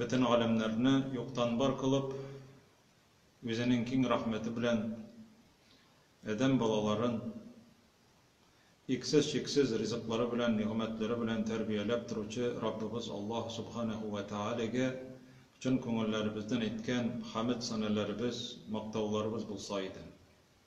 Бөтен галәмнәрне юктан бар кылып, Үзенең киң рәхмәте белән адәм балаларын иксез-чиксез ризыклары белән, нигъмәтләре белән тәрбияләп торучы Раббыбыз Аллаһ Субханәһү вә Тәгаләгә чын күңелләребездән әйткән хәмед-санәләребез, мактауларыбыз булса иде.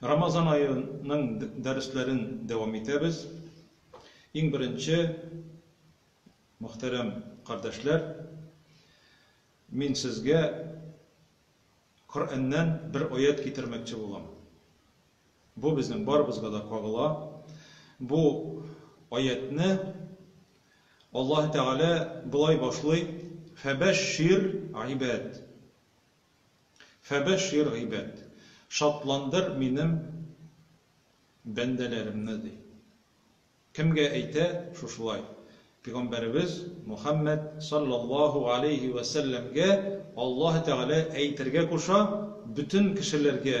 Рамазан аеның дәресләрен дәвам итәбез. Иң беренче, мөхтәрәм кардәшләр, мин сезгә Коръәннән бер аять китермәкче булам. Бу безнең барыбызга да кагыла. Бу аятьне Аллаһ Тәгалә болай башлый: "Фәбәшшир ибад". Фәбәшшир гыйбад. Шатландыр минем бәндәләремне, ди. Кемгә әйтә шушылай? Пигамбәребез Мухәммәд салләллаһу галәйһи вә сәлләмгә Аллаһы Тәгалә әйтергә куша, бөтен кешеләргә.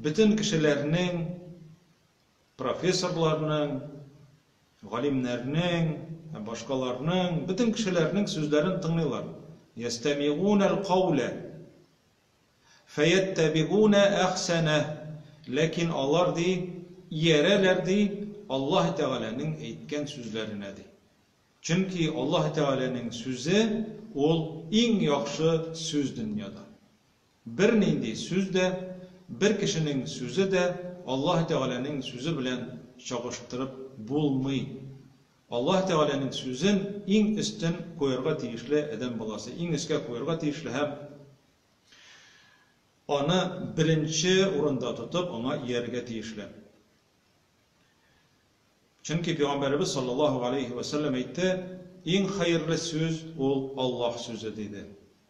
Бөтен кешеләрнең, профессорларның, галимнәрнең һәм башкаларның, бөтен кешеләрнең сүзләрен тыңлыйлар. Ястәмигуна аль-кауля, фәяттәбигуна әхсәнә. Ләкин алар, ди, иярәләр, ди, Аллаһы Тәгаләнең әйткән сүзләренә, ди. Чөнки Аллаһы Тәгаләнең сүзе, ул иң яхшы сүз дөньяда. Бернинди сүз дә, бер кешенең сүзе дә Аллаһы Тәгаләнең сүзе белән чагыштырып булмый. Аллаһы Тәгаләнең сүзен иң өстен куярга тиешле адәм баласы, иң өскә куярга тиешле һәм Аны беренче урында тотып, Аңа иярергә тиешле. Чөнки Пәйгамбәребез саллаллаһу галәйһи вә сәлләм әйтте, Иң хәерле сүз ул Аллаһ сүзе, диде.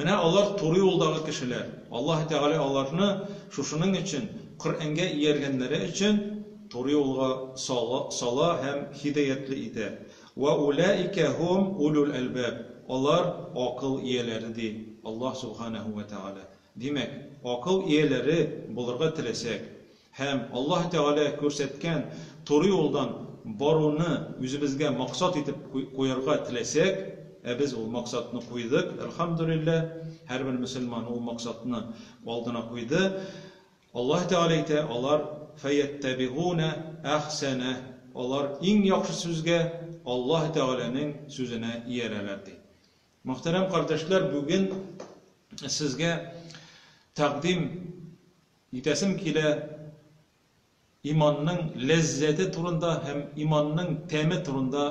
Менә алар туры юлдагы кешеләр. Аллаһы Тәгалә аларны шушының өчен, Коръәнгә ияргәннәре өчен, туры юлга сала һәм һидаятьле итә. Вә уләикә һум улул әлбаб. Алар, акыл ияләре, ди Аллаһ Сүбхәнәһү вә Тәгалә. Димәк, акыл ияләре булырга теләсәк, Һәм Аллаһ Тәгалә күрсәткән туры юлдан баруны үзебезгә максат итеп куярга теләсәк, ә без ул максатны куйдык, әлхәмдүлилләһ, һәрбер мөселман ул максатны алдына куйды, Аллаһ Тәгалә әйтә, алар, фәйәттәбигунә әхсәнәһ, алар иң яхшы сүзгә, Аллаһ Тәгаләнең сүзенә иярәләр, ди. Мөхтәрәм кардәшләр, бүген сезгә тәкъдим Үтәсем килә иманның ләззәте турында һәм иманның тәме турында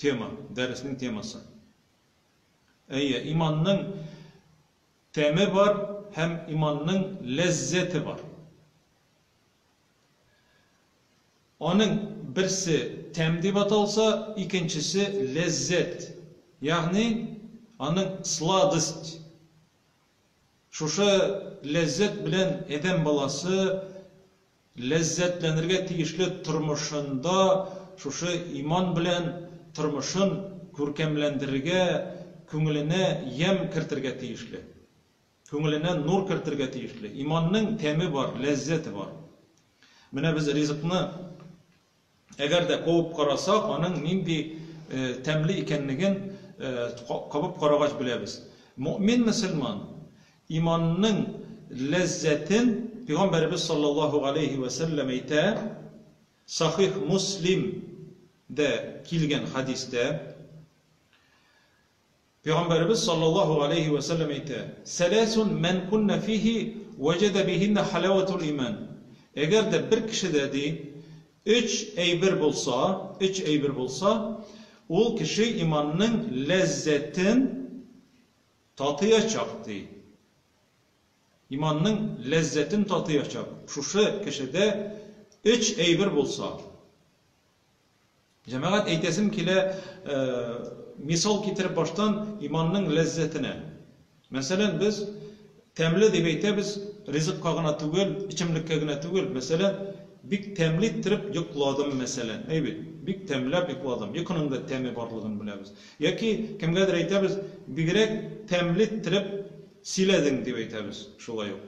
тема, дәреснең темасы. Әйе, иманның тәме бар һәм иманның ләззәте бар. Аның берсе тәм дип аталса, икенчесе ләззәт. Ягъни, аның сладость Шушы ләззәт белән адәм баласы ләззәтләнергә тиешле тормышында шушы иман белән тормышын күркәмләндерергә, күңеленә ямь кертергә тиешле. Күңеленә нур кертергә тиешле. Иманның тәме бар, ләззәте бар. Менә без ризыкны Әгәр дә куып караса, аның нинди тәмле икәнлеген кабып карагач беләбез. Мөэмин-мөселман иманның ләззәтен Пигамбәребез саллаллаһу галәйһи вә сәлләм әйтә, Сахих Муслим дә килгән хәдистә. Пәйгамбәребез салләллаһу галәйһи вә сәлләм әйтә, Сәләсун мән куннә фиһи вәҗәдә биһиннә халәвәтул имән, Әгәр дә бер кешедә, ди, өч әйбер булса, өч әйбер булса, ул кеше иманның ләззәтен татыячак, ди. Иманның ләззәтен татыячак. Шушы кешедә өч әйбер булса, Җәмәгать, әйтәсем килә, мисал китереп баштан иманның ләззәтенә. Мәсәлән, без тәмле дип әйтәбез, ризыкка гына түгел, эчемлеккә генә түгел. Мәсәлән, бик тәмле иттереп йокладым, мәсәлән. Әйбит, бик тәмләп йокладым. Йокының да тәме барлыгын беләбез. Яки кемгәдер әйтәбез, бигрәк тәмле иттереп сөйләдең, дип әйтәбез. Шулай ук.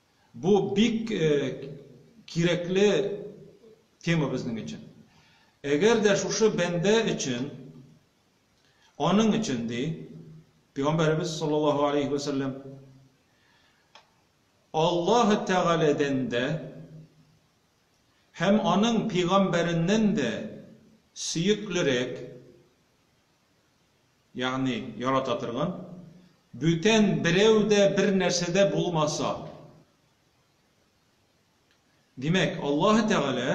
Бу бик кирәкле тема безнең өчен. Әгәр дә шушы бәндә өчен, аның өчен, ди Пәйгамбәребез саллаллаһу алейхи ва сәлләм, Аллаһ Тәгаләдән дә һәм аның пәйгамбәреннән дә сөеклерәк Ягъни, ярата торган, бүтән берәү дә, бер нәрсә дә булмаса. Димәк, Аллаһы Тәгалә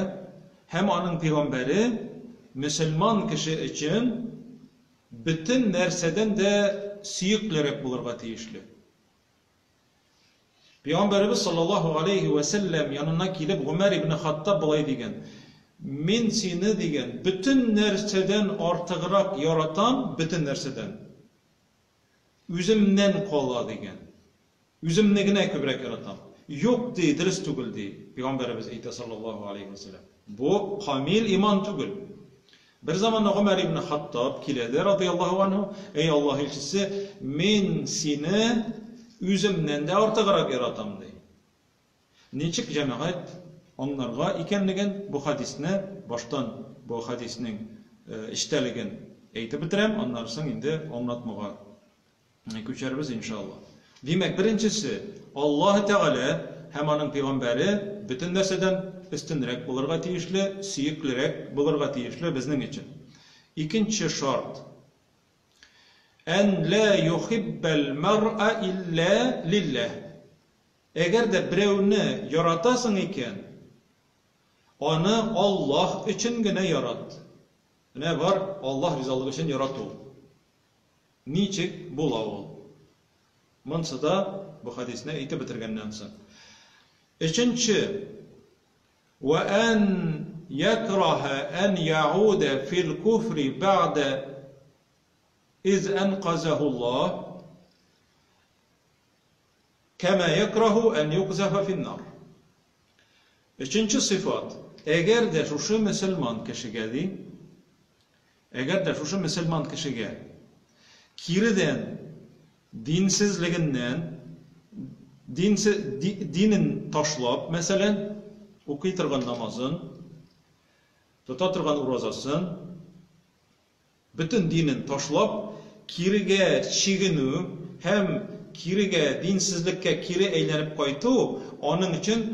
һәм аның пәйгамбәре мөселман кеше өчен бөтен нәрсәдән дә сөеклерәк булырга тиешле. Пәйгамбәребез саллаллаһу галәйһи вә сәлләм янына килеп, Гомәр ибне Хаттаб болай дигән, Мин сине, дигән, бөтен нәрсәдән артыграк яратам, бөтен нәрсәдән. Үземнән кала, дигән. Үземне генә күбрәк яратам. Юк, ди, дөрес түгел, ди. Пәйгамбәребез әйтә, саллаллаһу галәйһи вә сәлләм. Бу камил иман түгел. Бер заманда Гомәр ибне Хаттаб килә дә, радыяллаһу анһу, Әй Аллаһ илчесе, мин сине үземнән дә артыграк яратам, ди. Ничек җәмәгать аңларга икәнлеген бу хәдисне баштан бу хәдиснең эчтәлеген әйтеп бетерәм, аннары соң инде аңлатмага Күчәрбез, иншалла. Димәк, беренчесе, Аллаһы Тәгалә һәм аның пигамбәре бөтен нәрсәдән өстенрәк булырга тиешле, сөеклерәк булырга тиешле безнең өчен. Икенче шарт, Ән лә йохиббәл мәръа иллә лилләһ. Әгәр дә берәүне яратасың икән, аны Аллаһ өчен генә ярат. Менә бар Аллаһ ризалыгы өчен ярату. Ничек була ул? Монсы да бу хәдисне әйтеп бетергәннән соң. Өченче. Вә ән якраһа ән яуда фил куфри бәгъдә из әнказаху Аллаһ. Кәмә якраһу ән юкзафа фин-нар. Өченче сыйфат, Әгәр дә шушы мөселман кешегә, ди, әгәр дә шушы мөселман кешегә киредән динсезлегеннән, динсе, ди, динен ташлап, мәсәлән, укый торган намазын, тота торган уразасын, Бөтен динен ташлап, кирегә чигенү һәм кирегә, динсезлеккә кире әйләнеп кайту аның өчен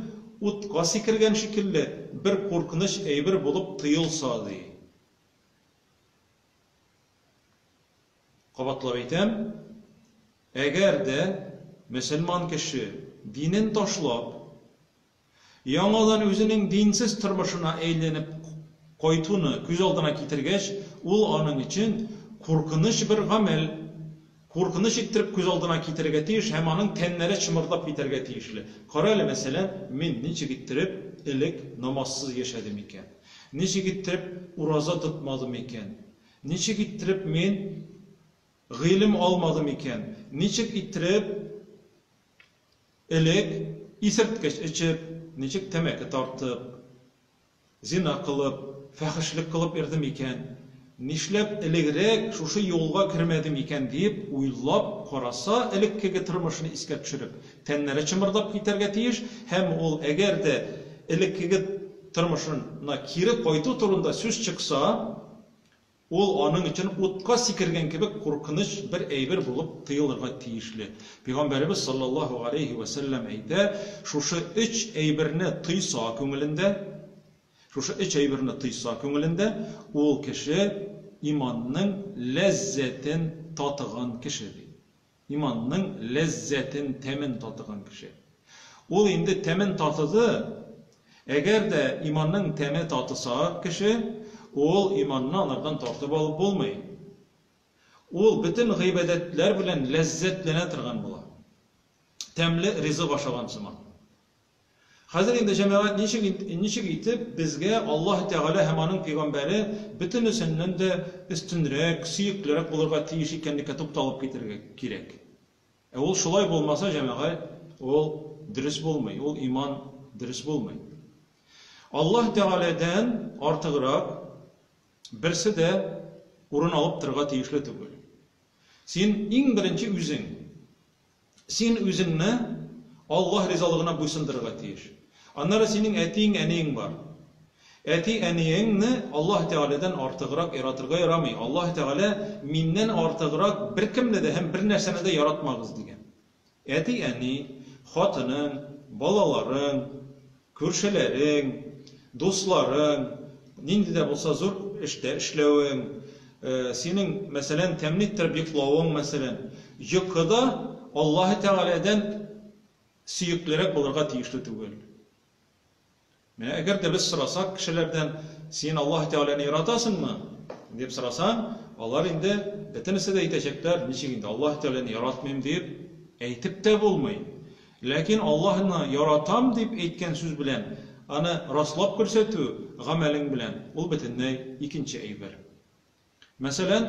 утка сикергән шикелле бер куркыныч әйбер булып тоелса, ди. Кабатлап әйтәм, әгәр дә мөселман кеше динен ташлап, Яңадан үзенең динсез тормышына әйләнеп кайтуны күз алдына китергәч, ул аның өчен куркыныч бер гамәл, куркыныч иттереп күз алдына китерергә тиеш һәм аның тәннәре чымырдап китәргә тиешле. Кара әле, мәсәлән, мин ничек иттереп элек намазсыз яшәдем икән? Ничек иттереп ураза тотмадым икән? Ничек иттереп мин гыйлем алмадым икән? Ничек иттереп Элек, исерткеч эчеп, ничек тәмәке тартып, зина кылып, фәхешлек кылып йөрдем икән, нишләп элегрәк шушы юлга кермәдем икән диеп уйлап караса, элеккеге тормышын искә төшереп, тәннәре чымырдап китәргә тиеш һәм ул әгәр дә элеккеге тормышына кире кайту турында сүз чыкса, Ул аның өчен утка сикергән кебек куркыныч бер әйбер булып тоелырга тиешле. Пигамбәребез салләллаһу галәйһи вә сәлләм әйтә, Шушы өч әйберне тойса күңелендә, шушы өч әйберне тойса күңелендә, ул кеше иманның ләззәтен татыган кеше, ди. Иманның ләззәтен, тәмен татыган кеше. Ул инде тәмен татыды. Әгәр дә иманның тәме татыса кеше, ул иманны алардан тартып алып булмый. Ул бөтен гыйбадәтләр белән ләззәтләнә торган була. Тәмле ризык ашаган сыман. Хәзер инде, җәмәгать, ничек, ничек итеп безгә Аллаһы Тәгалә һәм аның пәйгамбәре бөтенесеннән дә өстенрәк, сөеклерәк булырга тиеш икәнлеккә тукталып китәргә кирәк. Ә ул шулай булмаса, җәмәгать, ул дөрес булмый, ул иман дөрес булмый. Аллаһ Тәгаләдән артыграк берсе дә урын алып торырга тиешле түгел. Син иң беренче үзең. Син үзеңне Аллаһ ризалыгына буйсындырырга тиеш. Аннары синең әтиең, әниең бар. Әти, әниеңне Аллаһ Тәгаләдән артыграк яратырга ярамый. Аллаһ Тәгалә, Миннән артыграк беркемне дә һәм бернәрсәне дә яратмагыз, дигән. Әти, әни, хатының, балаларың. Күршеләрең, дусларың, нинди дә булса зур эштә эшләвең, синең, мәсәлән, тәэмин иттереп йоклавың, мәсәлән, йокы да Аллаһы Тәгаләдән сөеклерәк булырга тиешле түгел. Менә әгәр дә без сорасак кешеләрдән, син Аллаһы Тәгаләне яратасыңмы? дип сорасаң, алар инде бөтенесе дә әйтәчәкләр, ничек инде Аллаһы Тәгаләне яратмыйм дип әйтеп тә булмый. Ләкин Аллаһны яратам дип әйткән сүз белән аны раслап күрсәтү гамәлең белән, ул бөтенләй икенче әйбер. Мәсәлән,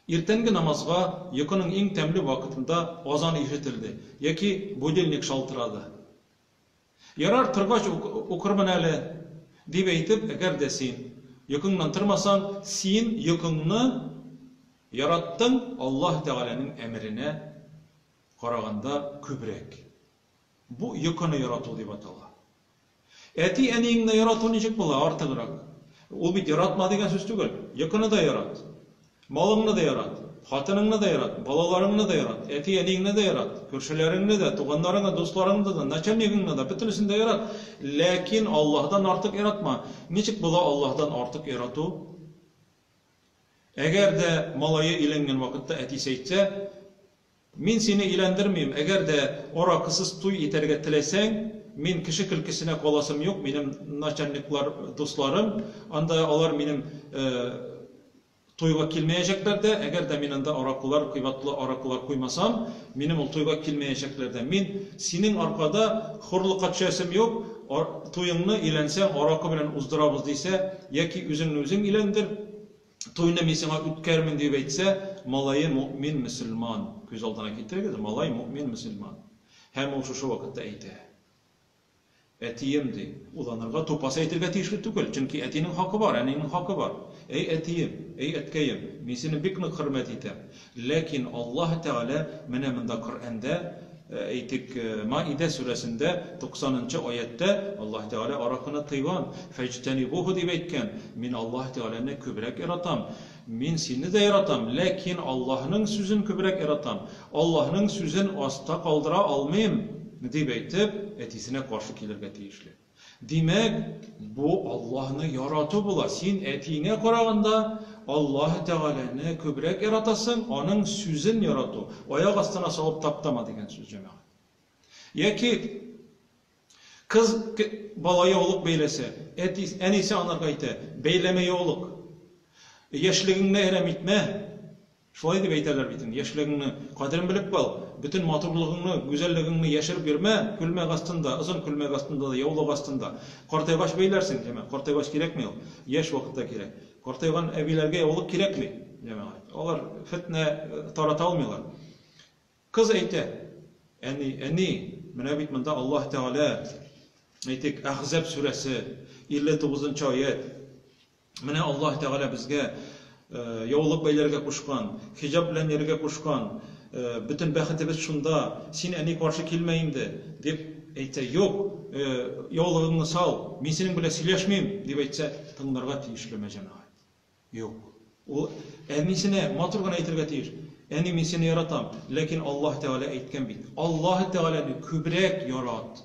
иртәнге намазга йокының иң тәмле вакытында азан ишетелде яки будильник шалтырады. Ярар, торгач укырмын әле, дип әйтеп, әгәр дә син йокыңнан тормасаң, син йокыңны яраттың Аллаһы Тәгаләнең әмеренә, Караганда күбрәк. Бу йокыны ярату дип атала. Әти-әниеңне ярату ничек була, артыграк? Ул бит яратма дигән сүз түгел. Йокыны да ярат. Малыңны да ярат. Хатыныңны да ярат. Балаларыңны да ярат. Әти-әниеңне дә ярат. Күршеләреңне дә, туганнарыңны, дусларыңны да, начальнигыңны да, бөтенесен дә ярат. Ләкин Аллаһыдан артык яратма. Ничек була Аллаһыдан артык ярату? Әгәр дә малае өйләнгән вакытта әтисе әйтсә, Мин сине өйләндермим, әгәр дә аракысыз туй итәргә теләсәң, мин кеше көлкесенә каласым юк, минем начальниклар дусларым, анда алар минем туйга килмәячәкләр дә, әгәр дә мин анда аракылар, кыйбатлы аракылар куймасам, минем ул туйга килмәячәкләр дә. Мин синең аркада хурлыкка төшәсем юк, туеңны, өйләнсәң, аракы белән уздырабыз дисә, яки үзеңне үзең өйләндер, Туйны мин сиңа үткәрмин дип әйтсә, малае мөэмин мөселман. Күз алдына китерегез, малай мөэмин мөселман. Һәм ул шушы вакытта әйтә. Әтием, ди, уйланырга, тупас әйтергә тиешле түгел, чөнки әтинең хакы бар, әнинең хакы бар. Әй әтием, әй әткәем, мин сине бик нык хөрмәт итәм. Ләкин Аллаһ Тәгалә менә монда Коръәндә, әйтик, Маидә сүрәсендә туксанынчы аятьтә Аллаһ Тәгалә аракыны тыйган, фәҗтәнибуху дип әйткән, Мин Аллаһ Тәгаләне күбрәк яратам, мин сине дә яратам, ләкин Аллаһның сүзен күбрәк яратам, Аллаһның сүзен аста калдыра алмыйм, дип әйтеп, әтисенә каршы килергә тиешле. Димәк, бу Аллаһны ярату була, син әтиеңә караганда Аллаһы Тәгаләне күбрәк яратасың, аның сүзен ярату, аяк астына салып таптама дигән сүз, җәмәгать. Яки кыз бала яулык бәйләсә, әти, әнисе анарга әйтә, бәйләмә яулык, яшьлегеңне әрәм итмә, Шулай дип әйтәләр бит инде, яшьлегеңне кадерен белеп кал, бөтен матурлыгыңны, гүзәллегеңне яшереп йөрмә, күлмәк астында, озын күлмәк астында да, яулык астында. Картайгач бәйләрсең, җәмәгать, картайгач кирәкми ул, яшь вакытта кирәк. Картайган әбиләргә яулык кирәкми, җәмәгать, алар фетнә тарата алмыйлар. Кыз әйтә, Әни, әни, менә бит монда Аллаһ Тәгалә, әйтик, Әхзәб сүрәсе, 59 нчы аять, Менә Аллаһ Тәгалә безгә яулык бәйләргә кушкан, хиҗаб белән йөрергә кушкан, бөтен бәхетебез шунда, син, әни, каршы килмә инде, дип әйтсә, юк, яулыгыңны сал, мин синең белән сөйләшмим, дип әйтсә, тыңларга тиешлеме, җәмәгать? Юк. Ул әнисенә матур гына әйтергә тиеш. Әни, мин сине яратам, ләкин Аллаһ Тәгалә әйткән бит. Аллаһ Тәгаләне күбрәк ярат.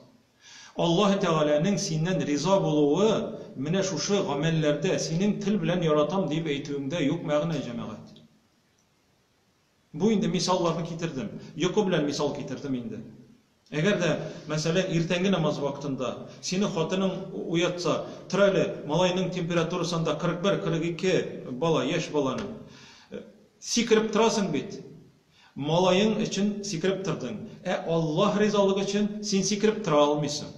Аллаһы Тәгаләнең синнән риза булуы менә шушы гамәлләрдә, синең тел белән яратам диеп әйтүеңдә юк мәгънә, җәмәгать. Бу инде мисалларны китердем. Йокы белән мисал китердем инде. Әгәр дә, мәсәлән, иртәнге намаз вакытында сине хатының уятса, тор әле, малайның температурасы анда 41, 42, бала, яшь баланың. Сикереп торасың бит. Малаең өчен сикереп тордың, ә Аллаһ ризалыгы өчен син сикереп тора алмыйсың.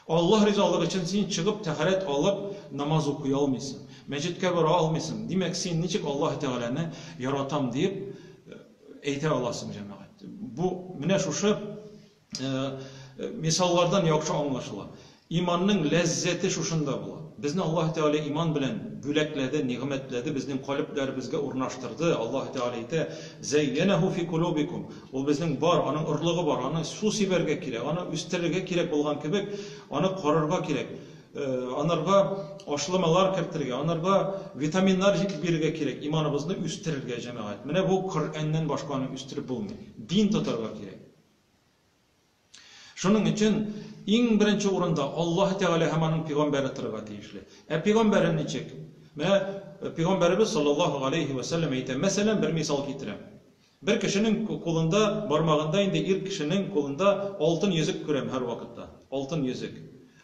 Аллаһ ризалыгы өчен син чыгып тәһарәт алып, намаз укый алмыйсың, мәчеткә бара алмыйсың. Димәк, син ничек Аллаһы Тәгаләне яратам диеп әйтә аласың, җәмәгать? Бу, менә шушы Мисаллардан яхшы аңлашыла. Иманның ләззәте шушында була. Безне Аллаһы Тәгалә иман белән бүләкләде, нигъмәтләде, безнең калебләребезгә урнаштырды. Аллаһы Тәгалә әйтә, Зәйянәһу фи кулубикум. Ул безнең бар, аның орлыгы бар, аны су сибәргә кирәк, аны үстерергә кирәк булган кебек, аны карарга кирәк, анарга ашламалар кертергә, анарга витаминнар җитеп бирергә кирәк, иманыбызны үстерергә, җәмәгать. Менә бу Коръәннән башка аны үстереп булмый. Дин тотарга кирәк. Шуның өчен иң беренче урында Аллаһ Тәгалә һәм аның пигамбәре торырга тиешле. Ә пигамбәре ничек? Менә э, пигамбәребез саллаллаһу алейхи ва саллям әйтә, мәсәлән, бер мисал китерәм. Бер кешенең кулында, бармагында инде ир кешенең кулында алтын йөзек күрәм һәр вакытта. Алтын йөзек.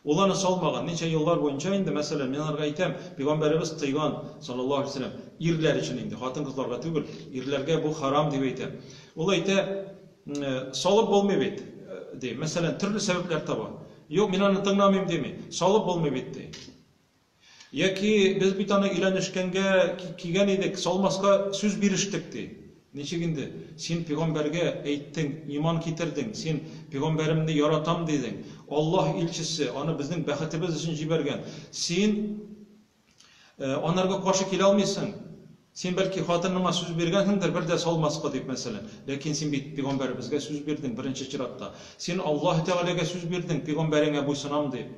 Ул аны салмаган. Ничә еллар буенча инде, мәсәлән, мин аларга әйтәм, пигамбәребез тыйган, саллаллаһу галәйһи ва сәлләм, ирләр өчен инде, хатын-кызларга түгел, ирләргә бу харам дип әйтә. Ул әйтә, салып булмый бит, ди. Мәсәлән, төрле сәбәпләр таба. Юк, мин аны тыңламыйм, дими. Салып булмый бит, ди. Яки, без бит аны өйләнешкәнгә кигән идек, салмаска сүз бирештек, ди. Ничек инде? Син пигамбәргә әйттең, иман китердең, син, Пигамбәремне яратам, дидең. Аллаһ илчесе аны безнең бәхетебез өчен җибәргән. Син анарга каршы килә алмыйсың. Син, бәлки, хатыныңа сүз биргәнсеңдер, бер дә салмаска дип, мәсәлән. Ләкин син бит пигамбәребезгә сүз бирдең, беренче чиратта. Син Аллаһ Тәгаләгә сүз бирдең, пигамбәреңә буйсынам, дип.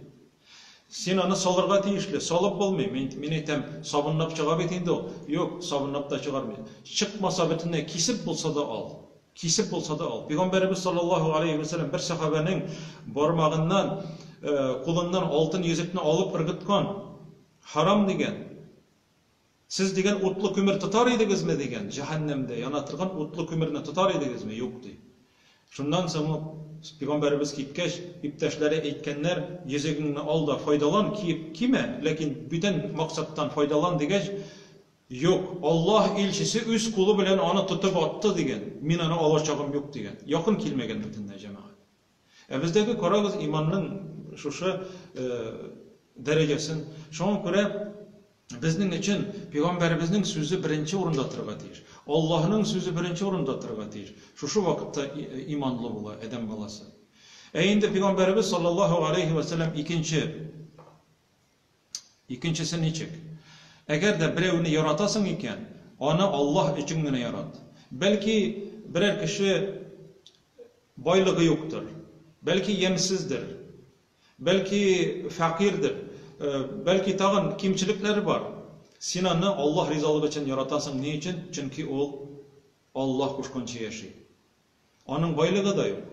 Син аны салырга тиешле, салып булмый. Мин, мин әйтәм, сабынлап чыга бит инде ул. Юк, сабынлап та чыгармый. Чыкмаса, бөтенләй кисеп булса да ал. Кисеп булса да ал. Пигамбәребез саллаллаһу алейһи вә сәлләм бер сәхабәнең бармагыннан, э, кулыннан алтын йөзекне алып ыргыткан. Харам дигән. Сез дигән утлы күмер тотар идегезме? дигән, җәһәннәмдә яна торган утлы күмерне тотар идегезме? Юк, ди. Шуннан соң ук, пигамбәребез киткәч, иптәшләре әйткәннәр, йөзегеңне ал да файдалан, киеп кимә, ләкин бүтән максаттан файдалан, дигәч, Юк, Аллаһ илчесе үз кулы белән аны тотып атты, дигән, мин аны алачагым юк, дигән. Якын килмәгән бөтенләй җәмәгать. Ә бездәге, карагыз, иманның шушы дәрәҗәсен. Шуңа күрә безнең өчен пәйгамбәребезнең сүзе беренче урында торырга тиеш. Аллаһның сүзе беренче урында торырга тиеш. Шушы вакытта иманлы була адәм баласы. Ә инде пәйгамбәребез саллаллаһу алейхи ва саллям икенче Икенчесе ничек? Әгәр дә берәүне яратасың икән, аны Аллаһ өчен генә ярат. Бәлки, берәр кеше байлыгы юктыр, бәлки, ямьсездер, бәлки, фәкыйрьдер, бәлки, тагын кимчелекләре бар. Син аны Аллаһ ризалыгы өчен яратасың. Ни өчен? Чөнки ул Аллаһ кушканча яши. Аның байлыгы да юк.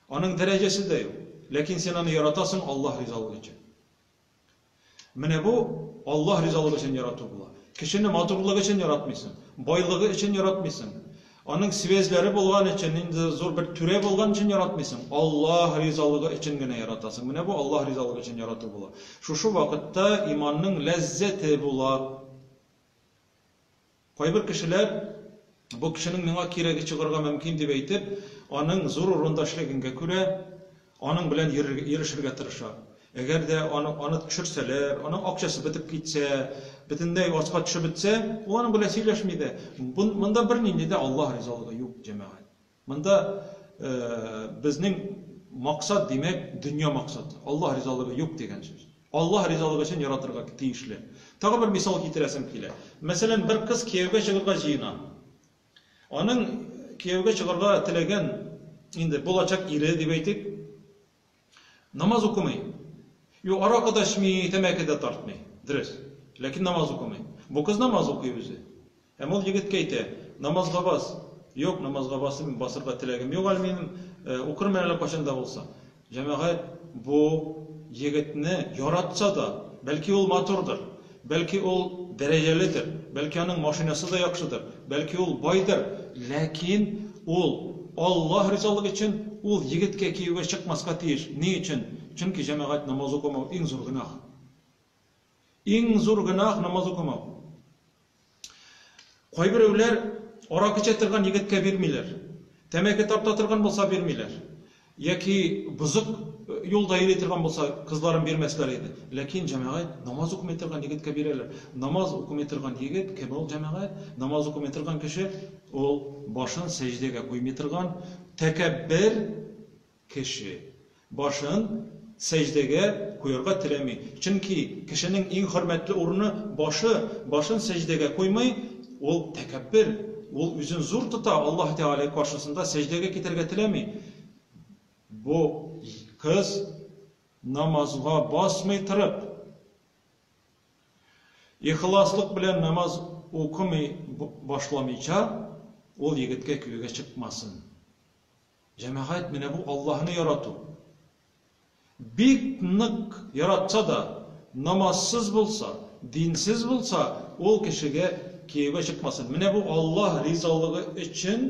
Аның дәрәҗәсе дә юк. Ләкин син аны яратасың Аллаһ ризалыгы өчен. Менә бу Аллаһ ризалыгы өчен ярату була. Кешене матурлыгы өчен яратмыйсың, байлыгы өчен яратмыйсың. Аның связьләре булган өчен, инде зур бер түрә булган өчен яратмыйсың. Аллаһ ризалыгы өчен генә яратасың. Менә бу Аллаһ ризалыгы өчен ярату була. Шушы вакытта иманның ләззәте була. Кайбер кешеләр, бу кешенең миңа кирәге чыгарга мөмкин дип әйтеп, аның зур урында эшләгәнгә күрә, аның белән йөрешергә тырыша. Әгәр дә аны аны төшерсәләр, аның акчасы бетеп китсә, бөтенләй аска төшеп бетсә, ул аның белән сөйләшми дә. Монда бернинди дә Аллаһ ризалыгы юк, җәмәгать. Монда безнең максат, димәк, дөнья максаты. Аллаһ ризалыгы юк дигән сүз. Аллаһ ризалыгы өчен яратырга тиешле. Тагы бер мисал китерәсем килә. Мәсәлән, бер кыз кияүгә чыгарга җыена. Аның кияүгә чыгарга теләгән, инде булачак ире дип әйтик, Намаз укымый. Юк, аракы да эчми, тәмәке дә тартмый. Дөрес. Ләкин намаз укымый. Бу кыз намаз укый үзе. Һәм ул егеткә әйтә, намазга бас. Юк, намазга басым, басырга теләгем юк әле минем, э, укырмын әле кайчан да булса. Җәмәгать, бу егетне яратса да, бәлки ул матурдыр. Бәлки ул дәрәҗәледер, бәлки аның машинасы да яхшыдыр, бәлки ул байдыр, ләкин ул Аллаһ ризалыгы өчен ул егеткә кияүгә чыкмаска тиеш. Ни өчен? Чөнки җәмәгать намаз укымау иң зур гөнаһ. Иң зур гөнаһ намаз укымау. Кайберәүләр арак эчә торган егеткә бирмиләр, тәмәке тарта торган булса бирмиләр, яки бозык юлда йөри торган булса кызларын бирмәсләр иде. Ләкин, җәмәгать, намаз укымый торган егеткә бирәләр. Намаз укымый торган егет кем ул, җәмәгать? Намаз укымый торган кеше, ул башын сәҗдәгә куймый торган, тәкәббер, Кеше. Башын сәҗдәгә куярга теләми. Чөнки кешенең иң хөрмәтле урыны, башы. Башын сәҗдәгә куймый, ул тәкәббер. Ул үзен зур тота, Аллаһы Тәгалә каршысында сәҗдәгә китәргә теләми. Бу кыз намазга басмый торып, ихласлык белән намаз укымый башламыйча, ул егеткә кияүгә чыкмасын. Җәмәгать, менә бу Аллаһны ярату. Бик нык яратса да, намазсыз булса, динсез булса, ул кешегә кияүгә чыкмасын. Менә бу Аллаһ ризалыгы өчен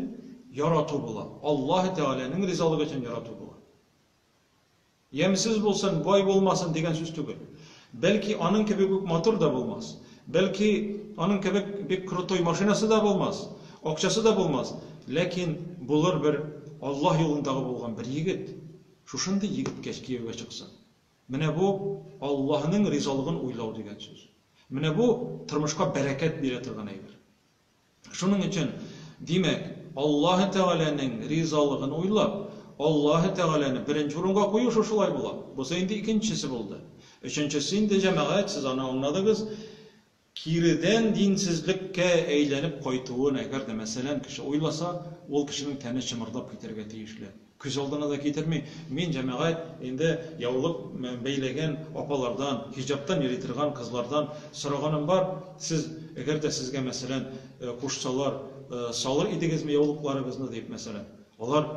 ярату була. Аллаһы Тәгаләнең ризалыгы өчен ярату була. Ямьсез булсын, бай булмасын дигән сүз түгел. Бәлки, аның кебек үк матур да булмас. Бәлки, аның кебек бик крутой машинасы да булмас, акчасы да булмас. Ләкин булыр бер Аллаһ юлындагы булган бер егет. Шушындый егеткә кияүгә чыксын. Менә бу Аллаһның ризалыгын уйлау дигән сүз. Менә бу тормышка бәрәкәт бирә торган әйбер. Шуның өчен, димәк, Аллаһы Тәгаләнең ризалыгын уйлап, Аллаһы Тәгаләне беренче урынга кую шушылай була. Бусы инде икенчесе булды. Өченчесе инде, җәмәгать, сез аны аңладыгыз, киредән динсезлеккә әйләнеп кайтуын әгәр дә, мәсәлән, кеше уйласа, ул кешенең тәне чымырдап китәргә тиешле. Күз алдына да китерми. Мин җәмәгать инде яулык бәйләгән апалардан, хиҗаптан йөри торган кызлардан сораганым бар, сез, әгәр дә сезгә, мәсәлән, кушсалар, салыр идегезме яулыкларыгызны, дип, мәсәлән. Алар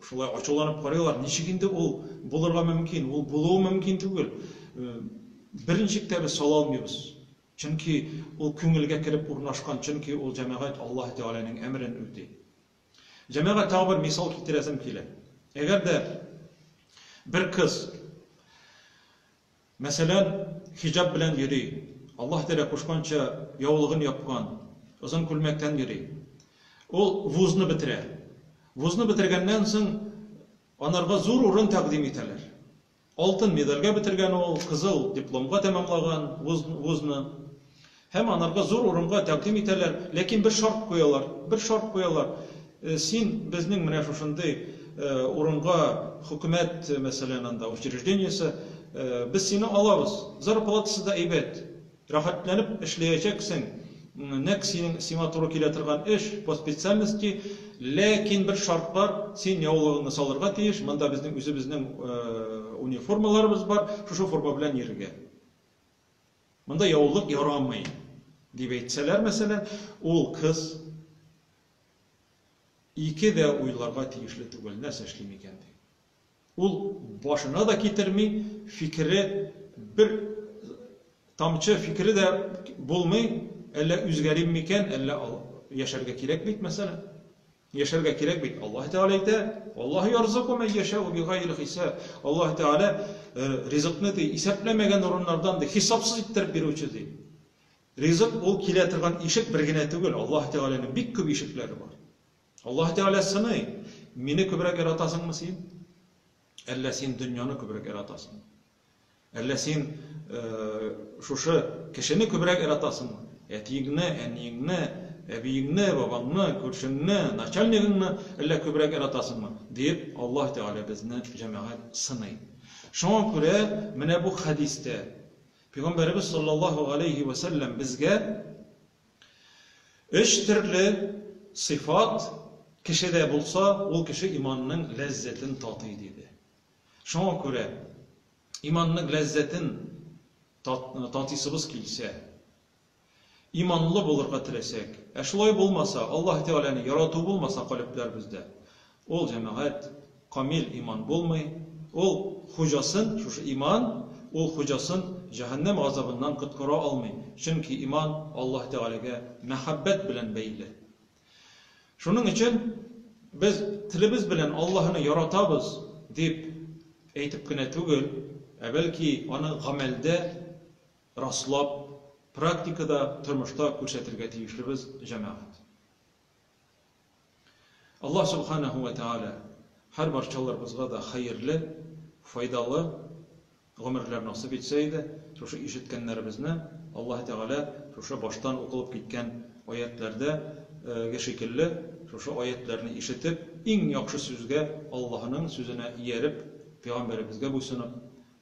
шулай ачуланып карыйлар, ничек инде ул булырга мөмкин, ул булуы мөмкин түгел. Берничек тә без сала алмыйбыз. Чөнки ул күңелгә кереп урнашкан, чөнки ул җәмәгать Аллаһы Тәгаләнең әмерен үти. Җәмәгать, тагы бер мисал китерәсем килә. Әгәр дә бер кыз, мәсәлән, хиҗаб белән йөри, Аллаһ Тәгалә кушканча яулыгын япкан, озын күлмәктән йөри, ул вузны бетерә. Вузны бетергәннән соң анарга зур урын тәкъдим итәләр. Алтын медальгә бетергән ул, кызыл дипломга тәмамлаган вузны. Һәм анарга зур урынга тәкъдим итәләр, ләкин бер шарт куялар, бер шарт куялар, син безнең менә шушындый урынга, хөкүмәт, мәсәлән, анда учреждениесе, без сине алабыз, зарплатасы да әйбәт. Рәхәтләнеп эшләячәксең, нәкъ синең сиңа туры килә торган эш, по специальности, ләкин бер шарт бар, син яулыгыңны салырга тиеш, монда безнең үзебезнең униформаларыбыз бар, шушы форма белән йөрергә. Монда яулык ярамый, дип әйтсәләр, мәсәлән, ул кыз ике дә уйларга тиешле түгел, нәрсә эшлим икән дип. Ул башына да китерми, фикере бер тамчы фикере дә булмый, әллә үзгәрим микән, әллә яшәргә кирәк бит, мәсәлән. Яшәргә кирәк бит. Аллаһ Тәгалә әйтә, Аллаһ ярзыку мен яшәу бигайр хисап. Аллаһ Тәгалә ризыкны ди, исәпләмәгән урыннардан ди, хисапсыз иттереп бирүче ди. Ризык ул килә торган ишек бер генә түгел, Аллаһ Тәгаләнең бик күп ишекләре бар. Аллаһ Тәгалә сыный, мине күбрәк яратасыңмы син? Әллә син дөньяны күбрәк яратасыңмы? Әллә син э, шушы кешене күбрәк яратасыңмы? Әтиеңне, әниеңне, әбиеңне, бабаңны, күршеңне, начальнигыңны әллә күбрәк яратасыңмы? дип, Аллаһ Тәгалә безне җәмәгать сыный. Шуңа күрә менә бу хәдистә Пәйгамбәребез саллаллаһу алейхи ва саллям безгә Өч төрле сыйфат кешедә булса, ул кеше иманның ләззәтен татый, диде. Шуңа күрә, иманның ләззәтен татыйсыбыз килсә, иманлы булырга теләсәк, ә шулай булмаса, Аллаһы Тәгаләне ярату булмаса калебләребездә, Ул җәмәгать, камил иман булмый, ул хуҗасын, шушы иман, ул хуҗасын җәһәннәм газабыннан коткара алмый, чөнки иман Аллаһ Тәгаләгә мәхәббәт белән бәйле. Шуның өчен без телебез белән Аллаһыны яратабыз дип әйтеп кенә түгел, ә бәлки аны гамәлдә раслап, практикада, тормышта күрсәтергә тиешлебез, җәмәгать. Аллаһ Субханаһу вә Тәгалә һәр барчаларыбызга да хәерле, файдалы гомерләр насыйп итсә иде, шушы ишеткәннәребезне Аллаһ Тәгалә шушы баштан укылып киткән аятьләрдә ге шикелле, шушы аятьләрне ишетеп, иң яхшы сүзгә, Аллаһының сүзенә ияреп, Пәйгамбәребезгә буйсынып,